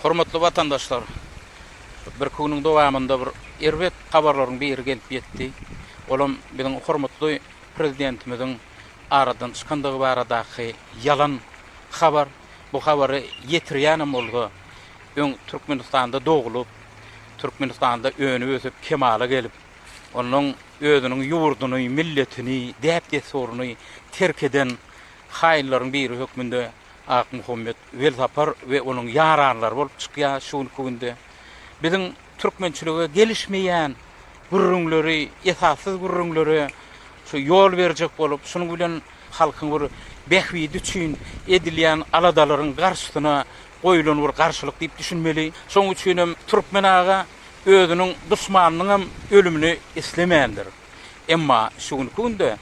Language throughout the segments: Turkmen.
Hormatly watandaşlar! Birki günüň dowamynda bir erbet habarlaryň biri gelip ýetdi. Olam biziň hormatly Prezidentimiziň aradan çykandygy baradaky ýalan habar. Bu habary ýetirýänem bolsa, öň Türkmenistanda doglup, Türkmenistanda önüp-ösüp, kemala gelip, onnoň özüniň ýurduny, milletini, däp-dessuryny terk eden haýynlaryň biri hökmünde Akmuhammet Welsapar we onuň ýaranlary bolup çykýar şu günki günde. Biziň türkmençilige gelişmeýän gürrüňleri, esassyz gürrüňleri şu ýol berjek bolup, şunuň bilen halkyň bir bähbidi üçin edilýän aladalaryň garşysyna goýulan bir garşylyk diýip düşünmeli. Şonuň üçin hem türkmen aga özüniň duşmanynyň hem ölümini islemändir. Emma şu günki günde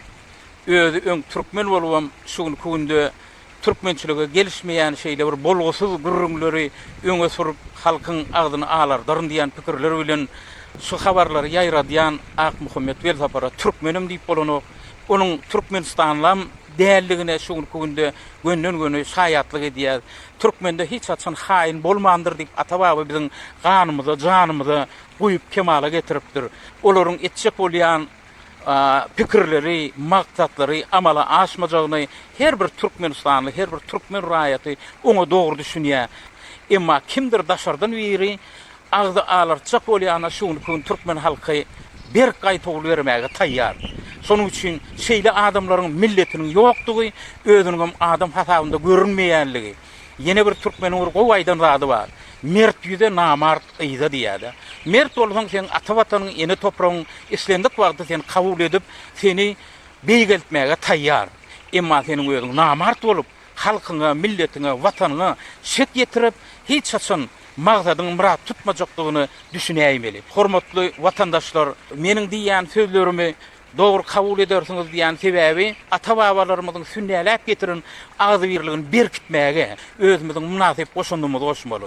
özi öň türkmen bolup hem şu günki günde Türkmençilige gelişmeýän şeýle bir bolgusyz gürrüňleri öňe sürüp, halkyň agzyny alardaryn diýen pikirler bilen şu habarlary ýaýradýan Akmuhammet Welsapara türkmenim diýip bolanok, onuň türkmenistanlyam däldigine şu günki günde gönden-göni şaýatlyk edýäs. Türkmende hiç haçan haýyn bolmandyr diýip ata-baba biziň ganymyza, janymyza guýup kemala getiripdir. Olaryň etjek bolýan. pikirleri, maksatlary amala aşmajagyny her bir türkmenistanly, her bir türkmen raýaty oňa dogry düşünýär. Emma kimdir daşardan biri agzy alartjak bolýana şu günki gün türkmen halky berk gaýtawul bermäge taýýar. Şonuň üçin şeýle adamlaryň milletiniň ýokdugy, özüniňem adam hasabynda görünmeýänligi. Ýene bir türkmeniň bir gowy aýdan zady bar, Mert ýüze namart Yza diýýär-de. Mert bolsaň, seň ata Watanyň, ene topragyň islendik wagty seni kabul edip, seni beýgeltmäge taýýar. Emma seniň özüň namart bolup, halkyňa, milletiňe, Watanyňa şek ýetirip, hiç haçan magsadyňy myrat tutmajakdygyny düşünäýmeli. Hormatly watandaşlar, meniň diýýän sözlerimi dogry kabul edersiňiz diýýän sebäbi, ata-babalarymyzyň sünnäläp getiren agzybirligini berkitmäge özümiziň mynasyp goşandymyzy goşmaly.